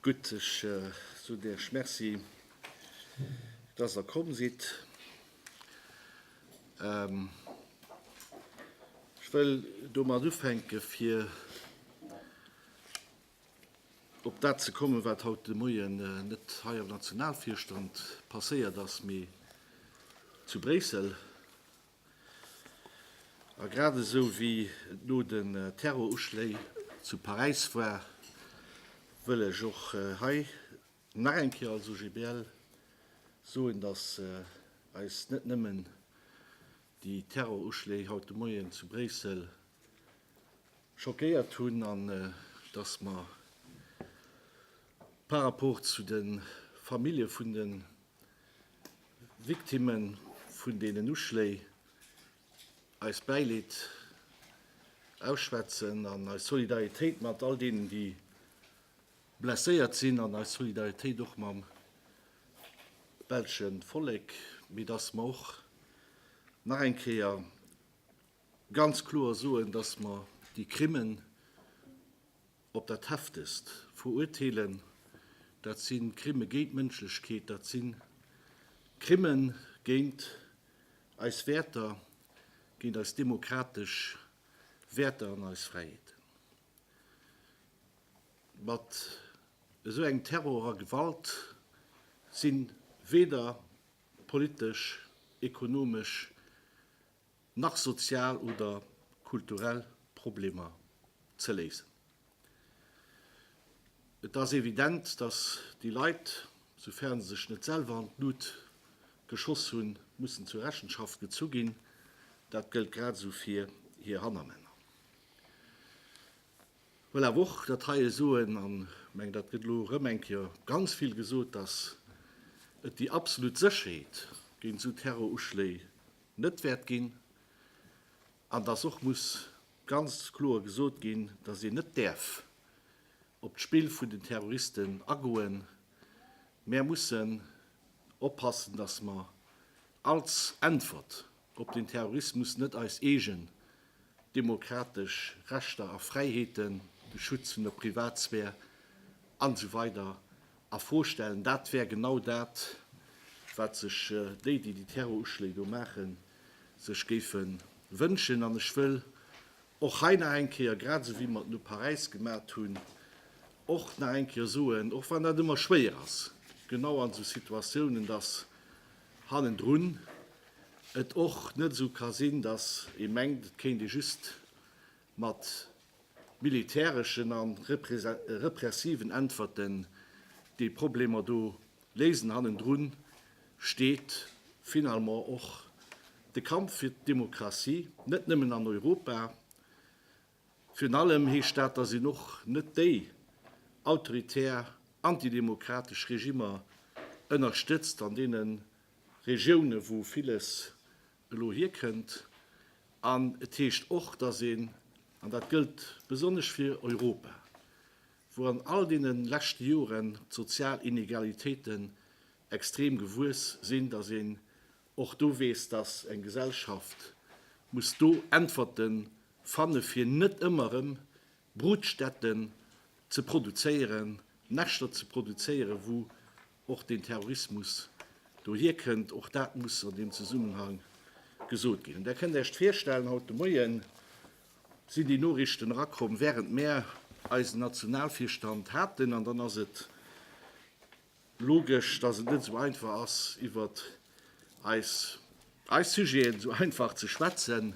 Gutt, ech soen Iech Merci, dass Der komm sidd. Ech wëll domat ufänke fir op dat ze kommen, wat haut de Moien net hei am Nationalvirstand passéiert ass, mee zu Bréissel. A grad esou wéi et no den Terroruschléi zu Paräis war, wëll ech och hei nach eng Kéier als OGBL soen, dass eis net nëmmen déi Terroruschléi haut de Moien zu Bréissel schockéiert hunn an dass mer par rapport zu de Famillje vun de Victimme vun deenen Uschléi eist Bäileed ausschwätzen an eis Solidaritéit mat all deenen, déi blesséiert sinn, an eis Solidaritéit och mam belschen Vollek, mee dass mer och nach eng Kéier ganz kloer soen, dass mer déi Crimen, op dat heftegst veruerteelen. Dat si Crime géint d'Mënschlechkeet, dat si Crime géint eis Wäerter, géint eis demokratesch Wäerter an eis Fräiheeten. Mat esou engem Terror a Gewalt si weder politesch, ekonomesch, nach sozial oder kulturell Problemer ze léisen. Et ass evident, datt déi Leit, soufern se sech net selwer an d'Lut geschoss hunn, mussen zur Rechenschaft gezu ginn. Dat gëllt grad esou fir hir Hannermänner. Ech wëll awer och dat heie soen, an ech mengen, dat gëtt elo erëm eng Kéier ganz vill gesot, datt et déi absolut Sécherheet géint esou Terroruschléi net wäert ginn an dass och muss ganz kloer gesot ginn, dass een net däerf op d'Spill vun den Terroristen agoen. Mer mussen oppassen, dass mer als Äntwert op den Terrorismus net eis eegen demokratesch Rechter a Fräiheeten, de Schutz vun der Privatsphär an esou weider A Fro stellen, dat wär genau dat, wat sech déi, déi déi Terroruschléi do maachen, sech géife wënschen. An ech wëll och hei nach eng Kéier, grad esou wéi mer et no Paräis gemat hunn, och nach eng Kéier soen, och wann dat ëmmer schwéier ass, genau an esou Situatiounen, datt hannendrun et och net esou ka sinn, datt ee mengt, et kéint ee just mat militäreschen a repressiven Äntwerten déi Problemer do léisen. Hannendru steet finalement och de Kampf fir d'Demokratie, net nëmmen an Europa. Virun allem heescht dat, datt een och net déi autoritär, antidemokratesch Regimmer ënnerstëtzt an deene Regiounen, wou villes elo hierkënnt. An et heescht och, dass een, an dat gëllt besonnesch fir Europa, wou an all deene leschte Joren d'sozial Inegalitéiten extrem gewuess sinn, dass een och do weess, dass eng Gesellschaft muss do Äntwerte fanne fir net ëmmer erëm Brutstätten ze produzéieren, Näschter ze produzéieren, wou och den Terrorismus dohier kënnt, och dat muss an deem Zesummenhang gesot ginn. An Der kënnt Iech virstellen, haut de Moien sinn déi Noriichten erakomm, während mär eisen Nationalvirstand haten. An dann ass et logesch, dass et net esou einfach ass, iwwert eis Sujeten esou einfach ze schwätzen.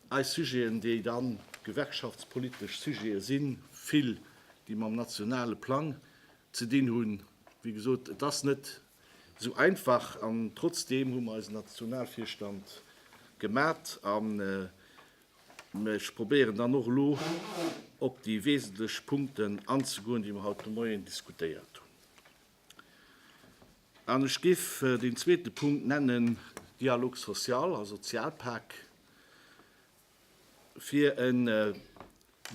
Eis Sujeten, déi dann gewerkschaftspolitesch Sujete sinn, vill, déi mam nationale Plang ze dinn hunn. Wéi gesot, et ass net esou einfach. An trotzdeem hu mer eisen Nationalvirstand gemat a mir probéieren dann och elo op déi wesentlech Punkten anzegoen, déi mer haut de Moien diskutéiert hunn. An ech géif deen zweete Punkt nennen, Dialogue social, also Sozialpak, fir e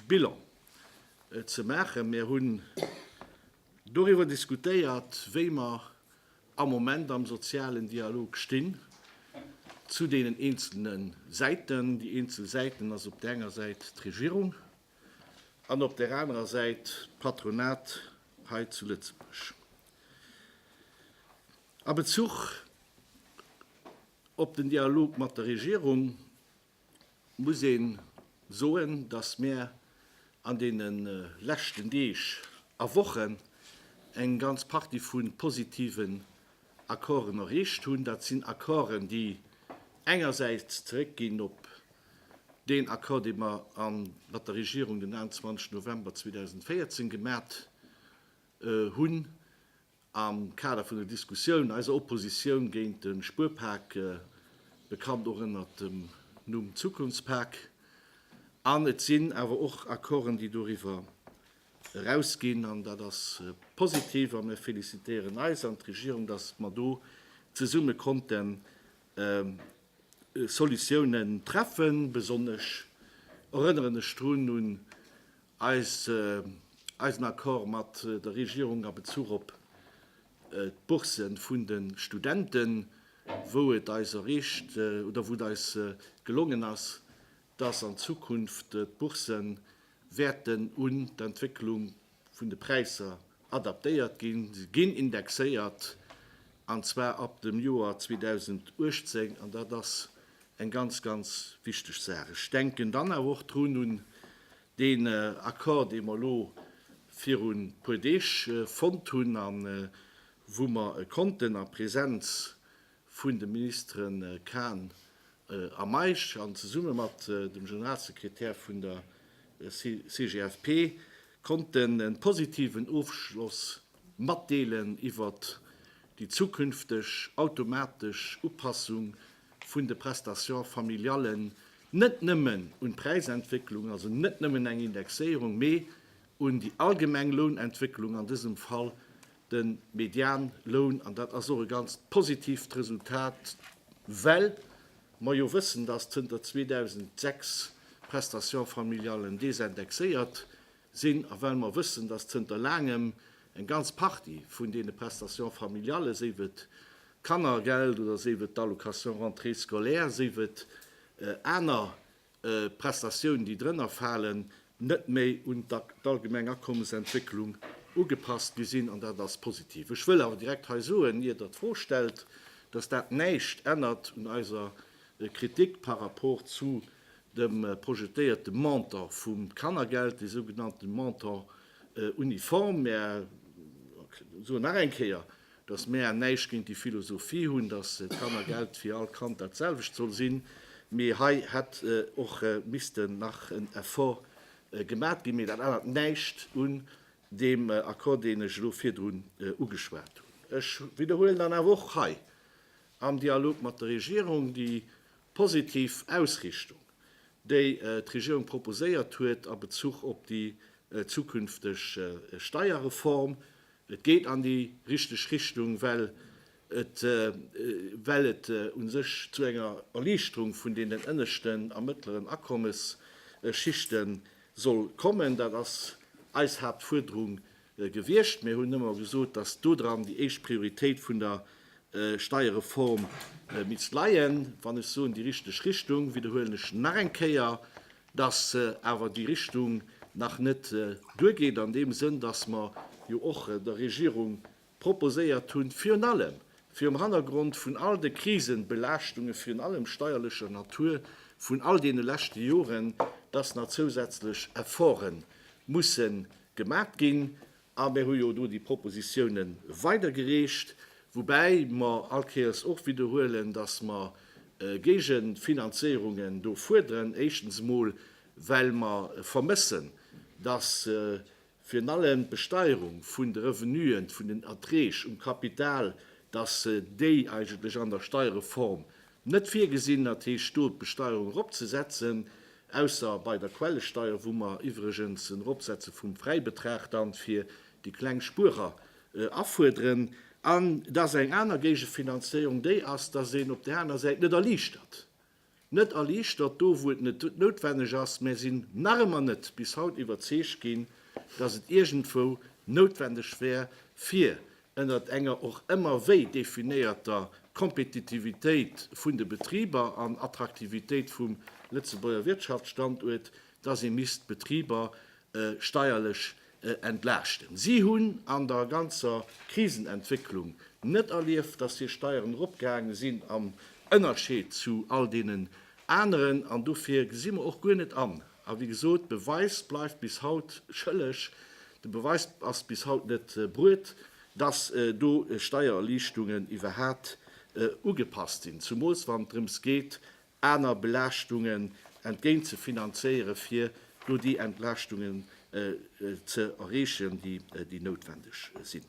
Bilan ze maachen. Mir hunn doriwwer diskutéiert, wéi mer am Moment am sozialen Dialog stinn zu deenen eenzelne Säiten. Déi eenzel Säiten ass op der enger Säit d'Regierung, An op där anerer Säit d'Patronat hei zu Lëtzebuerg. A Bezuch op den Dialog mat der Regierung muss ee soen, datt mir an deene leschten Deeg a Wochen eng ganz Partie vu positiven Accorden erreecht hunn. Dat sinn Accorden, déi engersäits zeréckginn op Deen Accord, dee mer mat der Regierung den 21 November 2014 gemat hunn am Kader vun den Diskussiounen, eiser Oppositioun géint de Spuerpak, bekannt och ënnert dem Numm Zukunftspak, an et sinn awer och Accorden, déi doriwwer erausginn, an dat ass positiv a mir félicitéieren eis an d'Regierung, dass mer do zesumme konnten Solutiounen treffen. Besonnesch erënneren ech drun un eisen Accord mat der Regierung a Bezuch op d'Bourse vun de Studenten, wou et eis erreecht oder wou et eis gelongen ass, dass an Zukunft d'Bourse wäerten un d'Entwécklung vun de Präisser adaptéiert ginn. Se ginn indexéiert, an zwar ab dem Joer 2018, an dat ass eng ganz, ganz wichteg Saach. Ech denken dann awer och drun un deen Accord, dee mer elo virun e puer Deeg fonnt hunn a wou mer konnten a Präsenz vun de Ministere Kahn a Meisch an zesumme mat dem Generalsekretär vun der CGFP konnten e positiven Ofschloss matdeelen iwwert déi zukünfteg automatesch Upassung vun de Prestations familiallen, net nëmmen un d'Präisentwécklung, also net nëmmen eng Indexéierung, mee un déi allgemeng Lounentwécklung, an dësem Fall de Medianloun, an dat ass och e ganz positiivt Resultat, well mer jo wëssen, dass zënter 2006 d'Prestations familiales désindexéiert sinn a well mer wëssen, dass zënter laangem eng ganz Partie vun deene Prestations familiales, séif et d'Kannergeld oder séif et d'Allocation rentrée scolaire, séif et aner d'Prestatiounen, déi drënner falen, net méi un d'allgemeng Akommesentwécklung ugepasst gi sinn, an dat ass positiv. Ech wëll awer direkt hei soen, ier Der d'Fro stellt, dass dat näischt ännert un eiser Kritik par rapport zu dem projetéierte Montant vum Kannergeld, dee sougenannte Montant uniforme. Mä ech soen nach eng Kéier, dass mäer näischt géint déi Philosophie hunn, dass d'Kannergeld fir all Kand dat selwecht soll sinn, mee hei hätt och missten nach en Effort gemat ginn. Mee dat ännert näischt un deem Accord, deen ech elo virdrun ugeschwat hunn. Ech widderhuelen dann awer och hei am Dialog mat der Regierung déi positiv Ausrichtung, déi d'Regierung proposéiert huet a Bezuch op déi zukünfteg Steierreform, Et geet an déi richteg Richtung, well et well et u sech zu enger Erliichterung vun deenen ënneschten a mëttleren Akommesschichte soll kommen. Dat ass eis Haaptfuerderung gewiescht. Mir hunn ëmmer gesot, dass dodran déi éischt Prioritéit vun der Steierreform misst leien. Wann ech soen déi richteg Richtung, widderhuelen ech nach eng Kéier, dass awer déi Richtung nach net duergeet, an deem Sënn, dass mer jo och der Regierung proposéiert hunn, virun allem virum Hannergrond vun all de Krisebelaaschtungen, virun allem steierlecher Natur, vun all deene leschte Joren, dass nach zousätzlech Efforte musse gemat ginn. A mir hu jo do déi Propositione weidergereecht, woubäi mer all Kéiers och widderhuelen, dass mer Géigefinanzéierungen do fuerderen. Éischtens emol, well mer vermëssen, dass virun allem d'Besteierung vun de Revenuen, vun den Erträg um Kapital, dass déi eigentlech an der Steierreform Net virgesinn, dat heescht do d'Besteuerung eropzesetzen, ausser bei der Quellesteier, wou mer iwwregens en Eropsetze vum Fräibetrag dann fir déi kleng Spuerer afuerderen. An et ass eng aner Géigefinanzéierung, déi ass, dass een op där aner Säit net erliichtert, net erliichtert do, wou et net noutwenneg ass. Mär sinn nach ëmmer net bis haut iwwerzeegt ginn, dass et iergendwou noutwendeg wär, fir ënnert enger och ëmmer wéi definéierter Kompetitivitéit vun de Betriber an Attraktivitéit vum Lëtzebuerger Wirtschaftsstanduert, dass ee misst d'Betriber steierlech entlaaschten. Si hunn an der ganzer Krisenentwécklung net erlieft, dass hir Steieren eropgaange sinn am Ënnerscheed zu all deenen aneren, an dofir gesi mer och guer net an, A wéi gesot, de Beweis bleift bis haut schëlleg. De Beweis ass bis haut net bruet, dass do Steiererliichtungen iwwerhat ugepasst sinn, zumools wann et drëms geet, aner Belaaschtungen entgéint ze finanzéiere fir do déi Entlaaschtungen ze erreechen, déi noutwendeg sinn.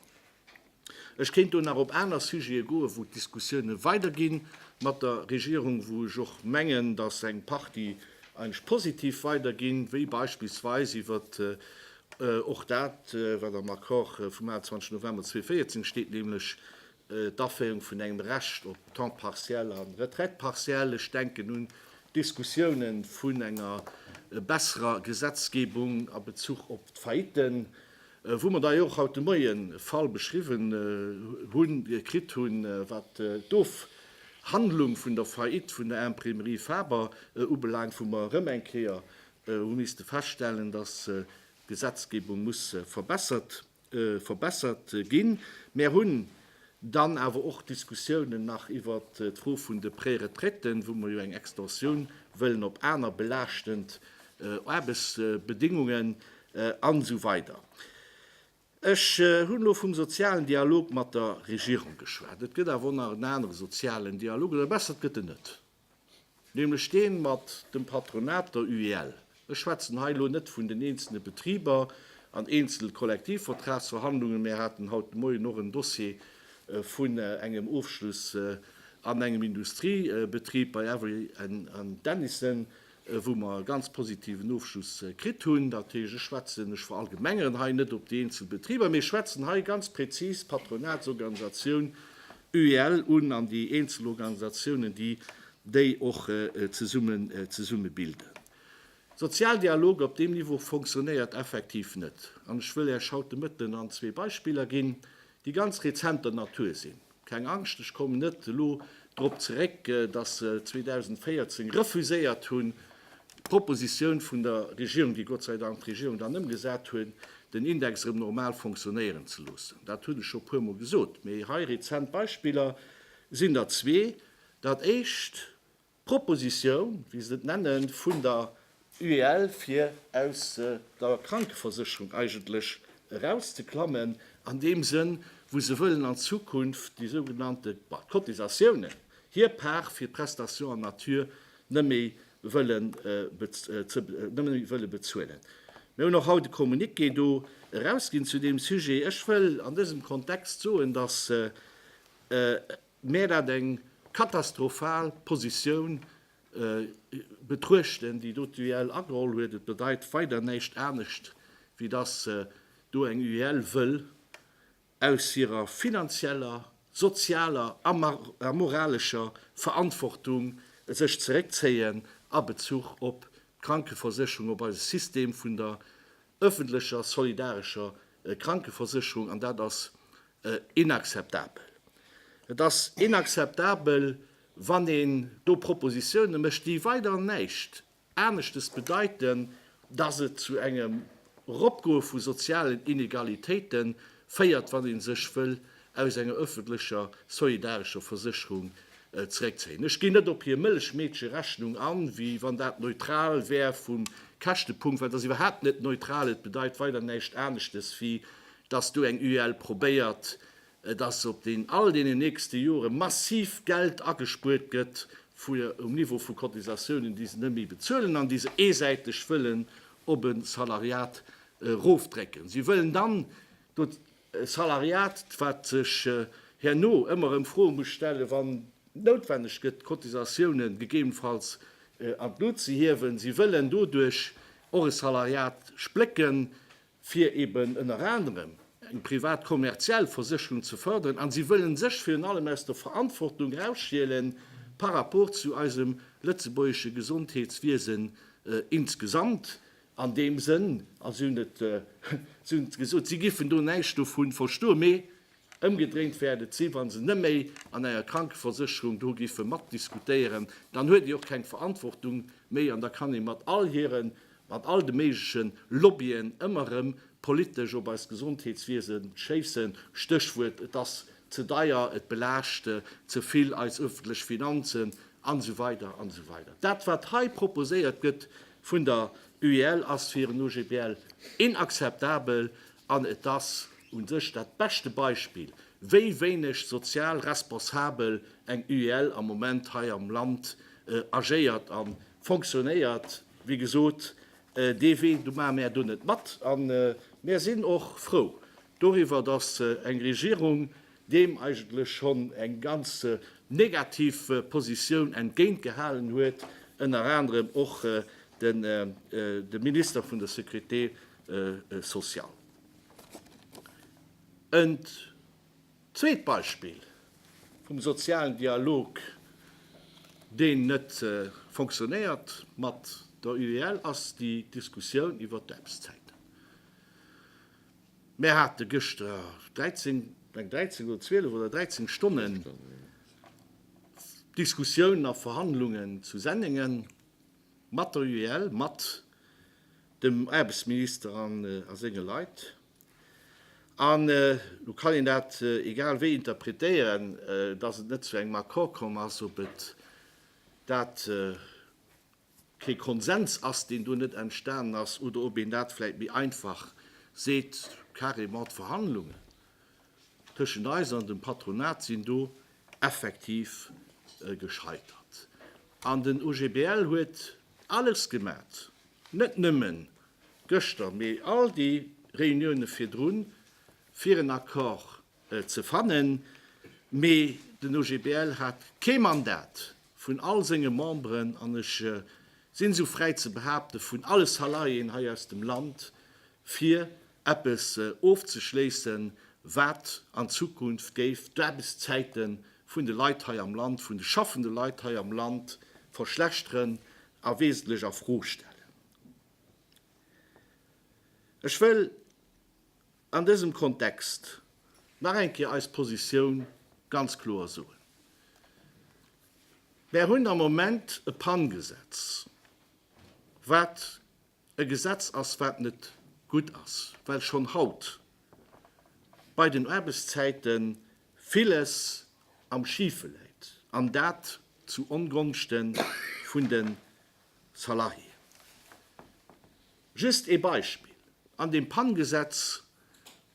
Ech kéint do nach op aner Sujete goen, wou d'Diskussioune weidergi mat der Regierung, wou ech och mengen, datt eng Partie eigentlech positiv weiderginn, wéi beispillsweis iwwer och dat, wat am Accord vum 28 November 2014 steet, nämlech d'Aféierung vun engem Recht op Temps partiel a Retraite partielle. Ech denken un d'Diskussioune vun enger besserer Gesetzgebung a Bezuch op d'Faillitten. wou mer da jo och haut de Moien e Fall beschriwwen hunn, kritt hunn, wat d'Ofhandlung vun der Faillite vun der Imprimerie Faber ubelaangt, wou mer erëm eng Kéier hu misste feststellen, dass d'Gesetzgebung muss verbessert ginn. Mär hunn Dann awer och Diskussiounen nach iwwer d'Fro vun de Préretraiten, wou mer jo eng Extensioun wëllen op aner belaaschtend Aarbechtsbedingungen an esou weider. Ech hunn elo vum sozialen Dialog mat der Regierung geschwat. Et gëtt awer och nach en anere sozialen Dialog, oder besser et gëtt en net. Nämlech deen mat dem Patronat, der UEL. Ech schwätzen hei elo net vun den eenzelne Betriber an eenzel Kollektivvertragsverhandlungen. Mär haten haut de Moien och en Dossier vun engem Ofschluss an engem Industriebetrib bei Avery Dennison. wou mer e ganz positiven Ofschluss kritt hunn. Dat heescht, ech schwätzen, ech verallgemengeren hei net op déi eenzel Betriber, mee ech schwätzen hei ganz prezis d'Patronatsorganisatioun UEL un an déi eenzel Organisatiounen, déi déi och zesumme bilden. Sozialdialog op deem Niveau fonctionnéiert effektiv net. An ech wëll Iech haut de Mëtten an zwee Beispiller ginn, déi ganz rezenter Natur sinn. Keng Angscht, ech kommen net elo drop zeréck, dass se 2014 refuséiert hunn, d'Proposition vun der Regierung, déi Gott sei Dank d'Regierung dann ëmgesat huet, den Index erëm normal fonctionnéieren ze loossen. Dat hunn ech scho e puermol gesot. Mee hei, rezent Beispiller sinn der zwee. Dat éischt, D'Propositioun, wéi se et nennen, vun der UEL, fir aus der Krankeversécherung eigentlech erauszeklammen, an deem Sënn, wou se wëllen an Zukunft déi sougenannte Cotisatiounen, hir Part fir d'Prestation en nature, net méi wëlle bezuelen. Mir hunn och haut e Communiqué do erausginn zu deem Sujet. Ech wëll an dësem Kontext soen, dass mär dat eng katastrophal Positioun betruechten, déi do d'UEL ageholl huet. Et bedeit weider näischt anescht, wéi dass do eng UEL wëll aus hirer finanzieller, sozialer a moralescher Verantwortung sech zeréckzéien a Bezuch op d'Krankeversécherung, op eise System vun der öffentlecher solidarescher Krankeversicherung an dat ass inakzeptabel. Et ass inakzeptabel, wann een do Propositiounen mécht, déi weider näischt aneschtes bedeiten, dass et zu engem Eropgoe vu sozialen Inegalitéite féiert, wann ee sech wëll aus enger öffentlecher solidarescher Versécherung zeréckzéien. Ech ginn net op hir Mëllechmeedcherechnung an, wéi wann dat neutral wär vum Käschtepunkt, well dat ass iwwerhaapt net neutral. Et bedeit weider näischt aneschtes, wéi datt do eng UEL probéiert, datt op all deenen nächste Jore massiv Geld agespuert gëtt um Niveau vu Cotisatiounen, déi se net méi bezuelen an déi se eesäiteg wëllen op e Salariat erofdrécken. Si wëllen dann, E Salariat, wat sech herno ëmmer erëm Froe muss stellen, wann noutwenneg gëtt, d'Cotisatiounen gegebenfalls an d'Lut ze hiewen. Si wëllen doduerch och e Salariat splécken, fir eben ënner anerem eng privat kommerziell Versécherung ze fërderen. A si wëllen sech virun allem aus der Verantwortung erausstielen par rapport zu eisem lëtzebuergesche Gesondheetswiesen insgesamt. An deem Sënn, also hunn et, si hunn et gesot, si giffen do näischt dovun verstoen, mee ëmgedréint wäert et sinn, wa se neméi an enger Krankeversécherung do giffe matdiskutéieren, dann huet ee och keng Verantwortung méi an da kann ee mat all hire, mat all de méigleche Lobbyen ëmmer erëm politesch op eist Gesondheetswiese schéissen, Stéchwuert, et ass ze deier, et belaascht ze vill eis öffentlech Finanzen, an esou weider an esou weider. Dat, wat hei proposéiert gëtt, vun der UEL ass fir en OGBL inakzeptabel an et ass u sech dat beschte Beispill, wéi wéineg sozial responsabel eng UEL am Moment hei am Land agéiert a fonctionnéiert. Wéi gesot, dee Wee, do maache mär do net mat a mär sinn och frou, doriwwer, dass eng Regierung deem eigentlech schonn eng ganz negativ Positioun entgéint gehalen huet, ënner anerem och de Minister vun der Sécurité sociale. En zweet Beispill vum sozialen Dialog, deen net fonctionnéiert mat der UEL, ass déi Diskussioun iwwert d'Aarbechtszäiten. Mär hate gëschter 13, meng 13 oder 12 oder 13 Stonnen Diskussioun a Verhandlungen zu Sennengen mat der UEL, mat dem Aarbechtsminister an a senge Leit. An elo kann een dat egal wéi interpretéieren, dass et net zu engem Accord komm ass, ob et dat kee Konsens ass, deen do net entstanen ass, oder ob een dat vläicht méi einfach seet, carrément d'Verhandlungen tëschent eis an dem Patronat sinn do effektiv gescheitert. An den OGBL huet alles gemat, net nëmme gëschter, mee all déi Reunioune virdrun, fir en Accord ze fannen, mee den OGBL hat kee Mandat vun all senge Memberen, an ech sinn esou fräi ze behaapten, vun alle Salariéen hei aus dem Land, fir eppes ofzeschléissen, wat an Zukunft géif d'Aarbechtszäite vun de Leit hei am Land, vun de schaffende Leit hei am Land verschlechteren a wesentlech a Fro stellen. Ech wëll. An dësem Kontext nach eng Kéier eis Positioun ganz kloer soen. Mär hunn am Moment e PAN-Gesetz, wat e Gesetz ass, wat net gutt ass, well schonn haut bei den Aarbechtszäite villes am Schife läit, an dat zu Ongonschte vun de Salariéen. Just ee Beispill, An dem PAN-Gesetz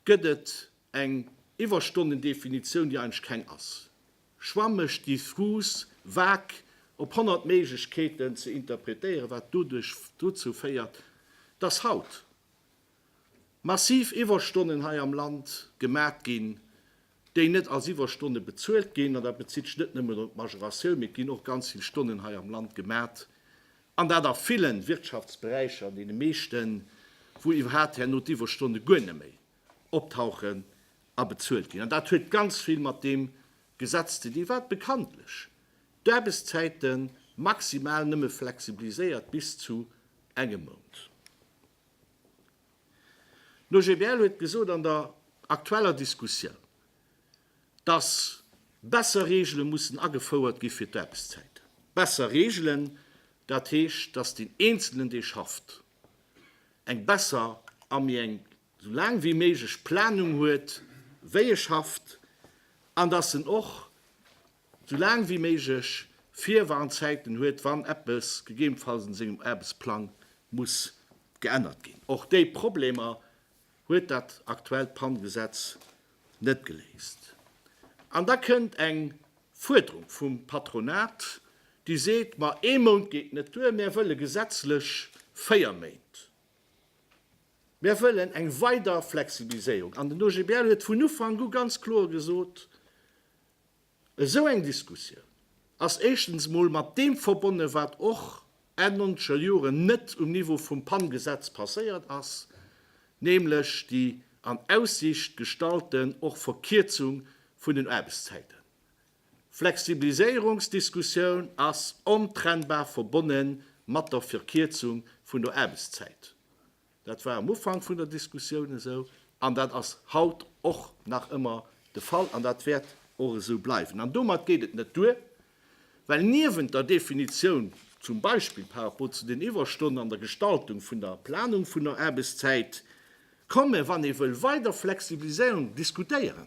gëtt et eng Iwwerstonnendefinitioun, déi eigentlech keng ass, schwammeg, diffus, vag, op honnert Méiglechkeeten ze interpretéieren, wat doduerch dozou féiert, dass haut massiv Iwwerstonnen hei am Land gemat ginn, déi net als Iwwerstonne bezuelt ginn, an dat bezitt sech net nëmmen op d'Majoratioun, mee et ginn och ganz vill Stonnen hei am Land gemat, an dat a villen Wirtschaftsberäicher, an deene meeschten, wou iwwerhaapt herno d'Iwwerstonne guer net méi optauchen a bezuelt ginn. An dat huet ganz vill mat deem Gesetz ze dinn, wat bekanntlech d'Aarbechtszäite maximal nëmme flexibiliséiert bis zu engem Mount. D'OGBL huet gesot an der aktueller Diskussioun, dass besser Regele mussen agefouert gi fir d'Aarbechtszäiten. Besser Regelen, dat heescht, dass deen Eenzelen, dee schafft, eng besser a méi eng esou laang wéi méiglech Planung huet, wéi e schafft, an dass en och, sou laang wéi méiglech Virwarnzäiten huet, wann eppes gegebenfalls un sengem Aarbechtsplang muss geännert ginn. Och déi Problemer huet dat aktuellt Pannegesetz net geléist. An da kënnt eng Fuerderung vum Patronat, déi seet, ma ee Mount geet net duer, mär wëlle gesetzlech véier Méint, mär wëllen eng weider Flexibiliséierung. An den OGBL huet vun Ufank u ganz kloer gesot, Esou eng Diskussioun ass éischtens mol mat deem verbonne wat och Enn nonzeger Joren net um Niveau vum PAN-Gesetz passéiert ass, nämlech déi an Aussicht gestallten och Verkierzung vun den Aarbechtszäiten. Flexibiliséierungsdiskussioun ass ontrennbar verbonne mat der Verkierzung vun der Aarbechtszäit. Dat war am Ufank vun der Diskussioun esou an dat ass haut och nach ëmmer de Fall an dat wäert och esou bleiwen. An domat geet et net duer, well niewent der Definitioun zum Beispill par rapport zu den Iwwerstonnen an der Gestaltung vun der Planung vun der Aarbechtszäit, ka mer, wann ee wëll, weider Flexibiliséierung diskutéieren,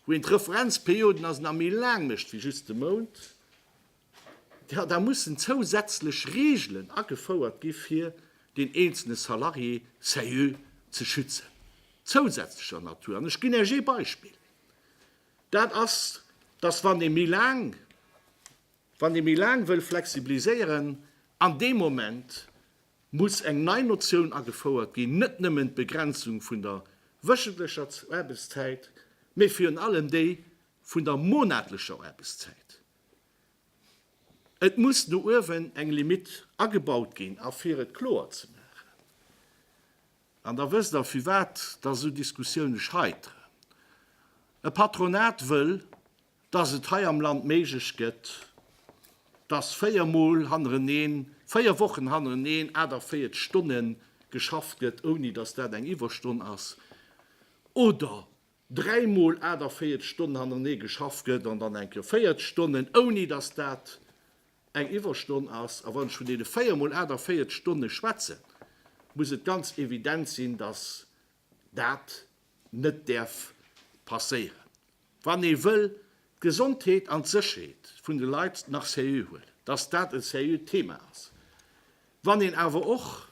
wou een d'Referenzperioden also nach méi laang mécht wéi just e Mount. Jo, da mussen zousätzlech Reegelen agefouert gi fir deen eenzelne Salarié, SAIU, ze schützen, zousätzlecher Natur. An ech ginn Iech ee Beispill, dat ass, dass, wann ee méi laang, wann ee méi laang wëll flexibiliséieren, an deem Moment muss eng nei Notioun agefouert ginn, net nëmmen d'Begrenzung vun der wöchentlecher Aarbechtszäit, mä virun allem déi vun der monatlecher Aarbechtszäit. Et muss no uewen eng Limitt agebaut ginn. A fir et kloer ze maachen, an da wësst Der firwat dass esou Diskussioune scheiteren, E Patronat wëll, dass et hei am Land méiglech gëtt, dass véier Mol hannereneen, véier Wochen hannereneen 48 Stonne geschafft gëtt, ouni dass dat eng Iwwerstonn ass, oder dräi mol 48 Stonnen hannerenee geschafft gëtt an dann enke 40 Stonnen, ouni dass dat eng Iwwerstonn ass. A wann ech vun deene véier mol 48 Stonne schwätzen, muss et ganz evident sinn, dass dat net däerf passéieren, wann ee wëll d'Gesondheet an d'Sécherheet vun de Leit nach seriö huelen, dass dat e seriöt Thema ass. Wann een awer och,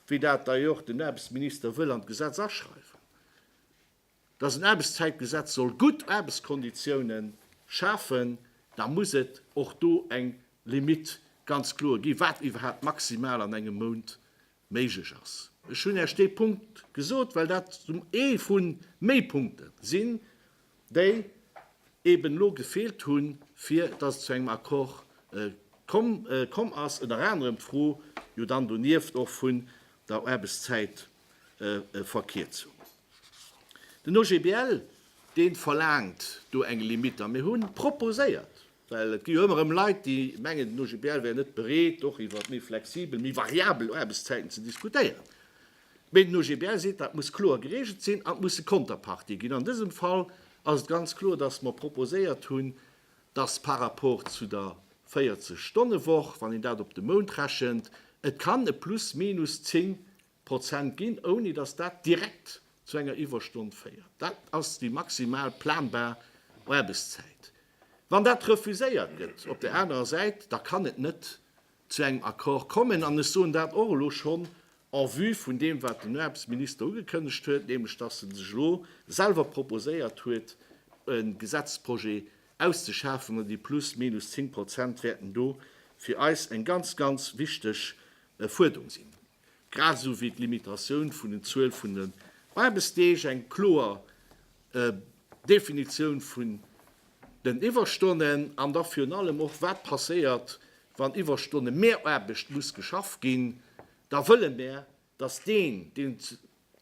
wéi dat d'ailleurs den Aarbechtsminister wëll an d'Gesetz aschreiwen, dass en Aarbechtszäitgesetz soll gutt Aarbechtskonditioune schafen, da muss et och do eng Limite ganz kloer ginn, wat iwwerhaapt maximal an engem Mount méiglech ass. Ech hunn Iech dee Punkt gesot, well dat ee vu méi Punkte sinn, déi eeben elo gefeelt hunn, fir dass et zu engem Accord komm ass. Ënner anerem d'Fro jo dann donieft och vun der Aarbechtszäitverlängerung. Verkierzung. Den OGBL, dee verlaangt do eng Limitt. A mir hu proposéiert, well et gi jo ëmmer erëm Leit, déi mengen, den OGBL wär net bereet, och iwwer méi flexibel, méi variabel Aarbechtszäiten ze diskutéieren. Mee den OGBL seet, dat muss kloer geregelt sinn an et musse Konterpartie ginn. An dësem Fall ass et ganz kloer, dass mer proposéiert hunn, dass par rapport zu der 40 Stonne Woch, wann een dat op de Mount rechent, et kann e plus minus 10 Prozent ginn, ouni dass dat direkt zu enger Iwwerstonn féiert. Dat ass déi maximal planbar Aarbechtszäit. Wann dat refuséiert gëtt op där anerer Säit, da kann et net zu engem Accord kommen. An ech soen dat och elo schonn en vue vun deem, wat den Aarbechtsminister ugekënnegt huet, nämlech datt e sech elo selwer proposéiert huet, e Gesetzprojet auszeschafen, an déi plus minus zéng Prozent wäerten do fir eis eng ganz, ganz wichteg Fuerderung sinn. grad esou wéi d'Limitatioun vun den Zuel vun den Aarbechtsdeeg, eng kloer Definitioun vun den Iwwerstonnen an da virun allem och, wat passéiert, wann Iwwerstonne, Mehraarbecht muss geschaff ginn, da wëlle mär, dass deen, dee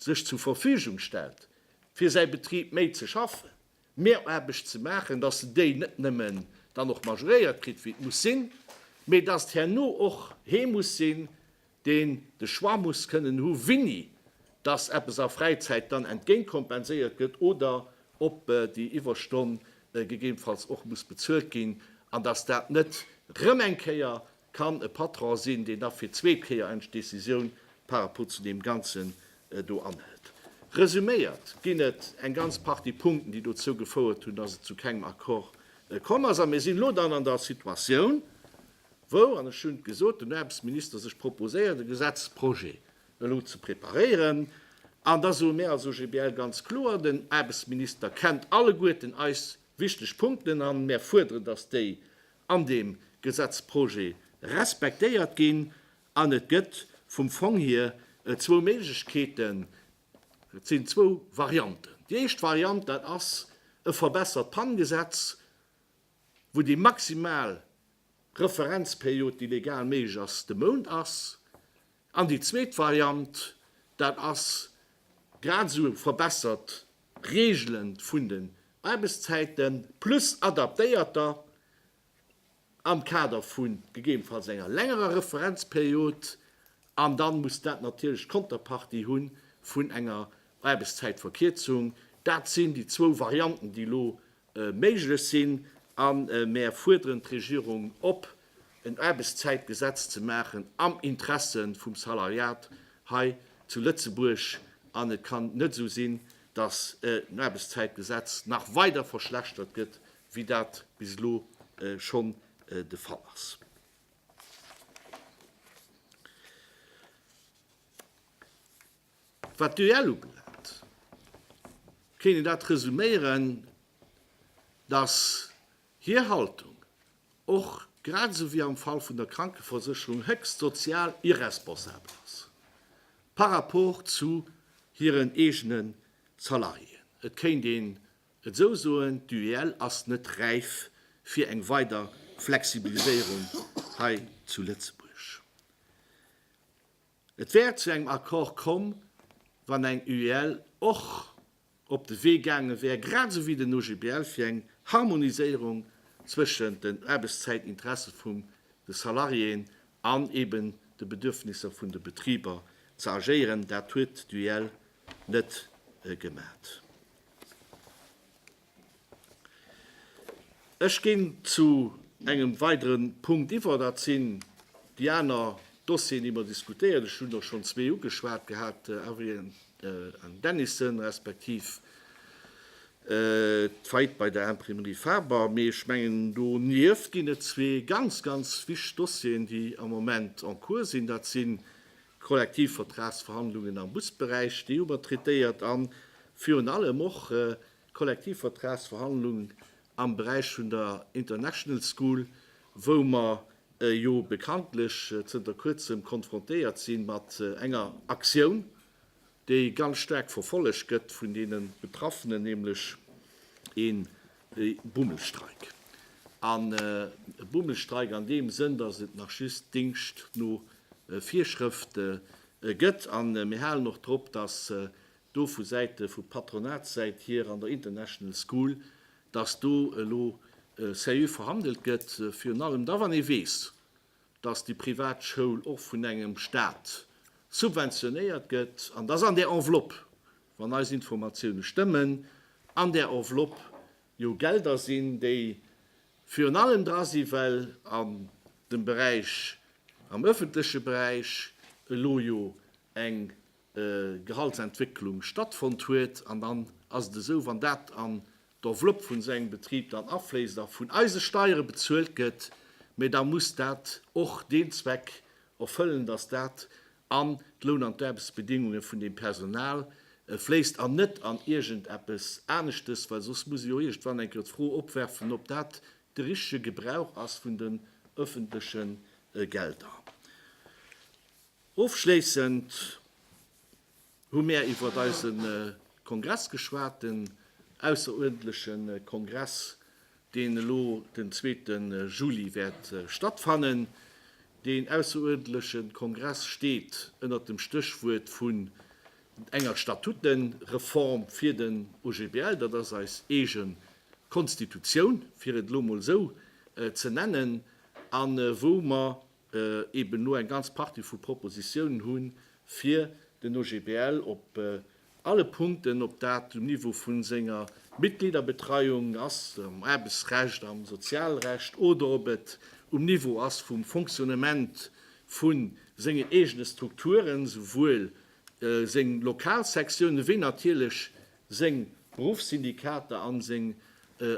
sech zur Verfügung stellt, fir säi Betrib méi ze schaffen, Mehraarbecht ze maachen, dass se déi net nëmmen dann och majoréiert kritt, wéi et muss sinn, mee dass et herno och hee muss sinn, deen de Choix muss kënnen hu wéini dass eppes a Fräizäit dann entgéintkompenséiert gëtt oder ob déi Iwwerstonn gegebenfalls och muss bezuelt ginn an dass dat net rëm eng Kéier kann e Patron sinn, deen da fir zwee Kéier eng Decisioun par rapport zu deem Ganzen do anhëlt. Resuméiert ginn et eng ganz Partie Punkten, déi dozou gefouert hunn, dass et zu kengem Accord komm ass. A mir sinn elo dann an der Situatioun, wou, an ech hunn et gesot, den Aarbechtsminister sech proposéiert, e Gesetzprojet elo ze preparéieren. An da soe mir als OGBL ganz kloer, den Aarbechtsminister kennt alleguerten eis wichteg Punkten, a mir fuerderen, dass déi an deem Gesetzprojet respektéiert ginn an et gëtt vum Fong hier zwou Méiglechkeeten, et sinn zwou Varianten. Déi éischt Variant, dat ass e verbessert PAN-Gesetz, wou déi maximal Referenzperiod, déi legal méiglech ass, de Mount ass. An déi zweet Variant, dat ass grad esou verbessert Regele vun den Aarbechtszäiten, plus adaptéierter am Kader vu gegebenfalls enger längerer Referenzperiod. An da muss dat natierlech d'Konterpartie hu vun enger Aarbechtszäitverkierzung. Dat sinn déi zwou Varianten, déi elo méiglech sinn a mär fuerderen d'Regierung op, en Aarbechtszäitgesetz ze maachen am Interesse vum Salariat hei zu Lëtzebuerg. An et kann net esou sinn, dass en Aarbechtszäitgesetz nach weider verschlechtert gëtt, wéi dat bis elo schonn de Fall ass. Wat d'UEL ubelaangt, kéint een dat resuméieren, datt hir Haltung, och grad esou wéi am Fall vun der Krankeversécherung, héchst sozial irresponsabel ass par rapport zu hiren eegene Salariéen. Et kéint een et esou soen, D'UEL ass net räif fir eng weider Flexibiliséierung hei zu Lëtzebuerg. Et wär zu engem Accord komm, wann eng UEL och op de Wee gaange wär, grad esou wéi den OGBL, fir eng Harmoniséierung zwëschen den Aarbechtszäitinteresse vum de Salariéen an eben de Bedürfnisser vun de Betriber ze agéieren. Dat huet d'UEL net gemat. Ech ginn zu engem weidere Punkt iwwer. Dat sinn déi aner Dossieren, déi mer diskutéieren. Ech hunn der schonn zwee ugeschwat gehat, Avrilln an Dennison, respektiv d'Faillite bei der Imprimerie Faber. Mee ech mengen, donieft ginn et zwee ganz, ganz wichteg Dossieren, déi am Moment en cours sinn. Dat sinn, D'Kollektivvertragsverhandlungen am Busberäich, déi hu mer traitéiert, a virun allem och d'Kollektivvertragsverhandlung am Beräich vun der International School, wou mer jo bekanntlech zënter Kuerzem konfrontéiert si mat enger Aktioun, déi ganz staark verfollegt gëtt vun deene Betraffenen, nämlech een Bummelstreik. An e Bummelstreik an deem Sënn, datt et nach just Dingscht no Virschrëft gëtt. A mir halen och drop, datt do vu Säite, vu Patronatssäit hier an der International School, datt do elo seriö verhandelt gëtt, virun allem da wann ee weess, dass déi privat Schoul och vun engem Staat subventionéiert gëtt an dass an där Enveloppe, wann eis Informatioune stëmmen, an där Enveloppe jo Gelder sinn, déi virun allem dra si well an dem Beräich, am öffentleche Beräich elo jo eng Gehaltsentwécklung stattfonnt huet. An dann ass et esou, wann dat an d'Enveloppe vun sengem Betrib dann afléisst a vun eise Steiere bezuelt gëtt, mä da muss dat och deen Zweck erfëllen, dass dat an d'Loun an d'Aarbechtsbedéngunge vun deem Personal fléisst an net an iergendeppes aneschtes, well soss muss ee jo iergendwann eng Kéier d'Fro opwerfen, ob dat de richtige Gebrauch ass vun den öffentliche Gelder. Ofschléissend. Hu mär iwwert eise Kongress geschwat, den ausseruerdentleche Kongress, deen elo den zweete Juli wäert stattfannen. Deen ausseruerdentleche Kongress steet ënnert dem Stéchwuert vun enger Statutenreform fir den OGBL. Dat ass eis eege Konstitutioun, fir et elo mol esou ze nennen, a wou mer eben elo eng ganz Partie vu Propositionen hu fir den OGBL op alle Punkten, ob dat um Niveau vu senger Mitgliederbetreiung ass, am Aarbechtsrecht, am Sozialrecht, oder ob et um Niveau ass vum Fonctionnement vu sengen eegene Strukturen, souwuel seng Lokalsektionen wéi natierlech seng Beruffssyndikater a seng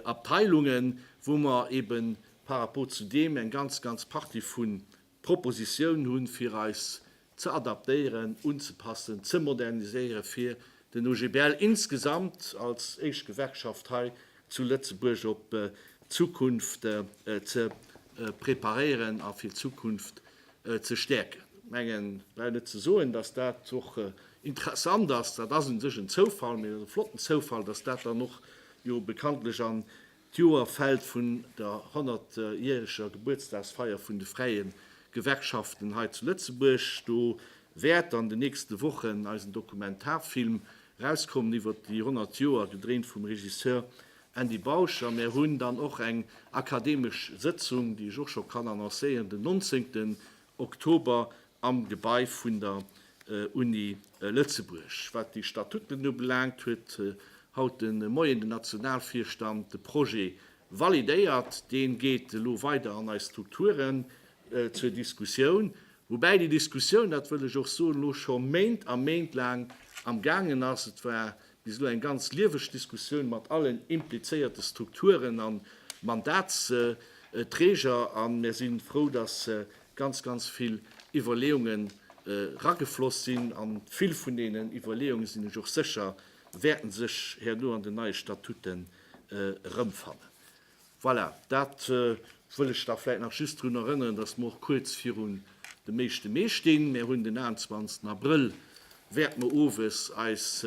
Abteilungen, wou mer eebe par rapport zu deem eng ganz, ganz Partie vu Propositionen hu fir eis ze adaptéieren, unzepassen, ze moderniséieren, fir den OGBL insgesamt als éischt Gewerkschaft hei zu Lëtzebuerg op d'Zukunft ze preparéieren a fir d'Zukunft ze stäerken. Ech mengen, ech brauch net ze soen, dass dat och interessant ass. Dat ass u sech en Zoufall, mee et ass e flotten Zoufall, dass dat dann och jo bekanntlech an d'Joer fält vun der honnertjäreger Gebuertsdagsfeier vun de fräie Gewerkschaften hei zu Lëtzebuerg. Do wäert an den nächste Wochen eisen Dokumentarfilm erauskommen iwwert déi honnert Joer, gedréint vum Regisseur Andy Bausch a mär hunn dann och eng akademesch Sëtzung, déi ech och scho kann annoncéieren, den 19 Oktober am Gebai vun der Uni Lëtzebuerg. Wat déi Statuten ubelaangt, huet haut de Moien den Nationalvirstand de Projet validéiert. Dee geet elo weider an eis Strukturen zur Diskussioun, woubäi déi Diskussioun, dat wëll ech och soen, elo scho Méint a Méint laang am gaangen ass. Et war bis elo eng ganz lieweg Diskussioun mat allen implizéierte Strukturen a Mandatsträger a mir si frou, dass ganz, ganz vill Iwwerleeunge ragefloss sinn. A vill vun deenen Iwwerleeunge sinn ech och sécher, wäerte sech herno an den neie Statuten erëmfannen. Voilà, dat wëll ech da vläit nach just drun erënneren, dass mer och kuerz virun de meeschte Mee stinn. Mir hunn den 21 Abrëll, wäert mer owes eis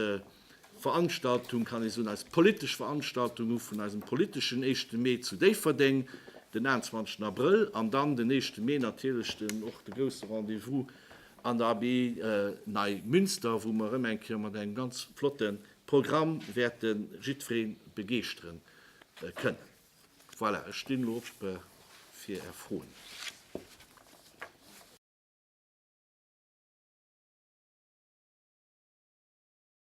Veranstaltung, kann ee soen, eis politesch Veranstaltung hu vun eisem politeschen éischte Mee zu Déifferdeng, den 21 Abrëll. An dann den éischte Mee natierlech den och de grousse Rendez-vous an der Abbaye Neimünster, wou mer erëm eng Kéier mat engem ganz flotte Programm wäerte jiddweree begeeschteren. kënnen. Voilà, ech stinn elo op fir Är Froen.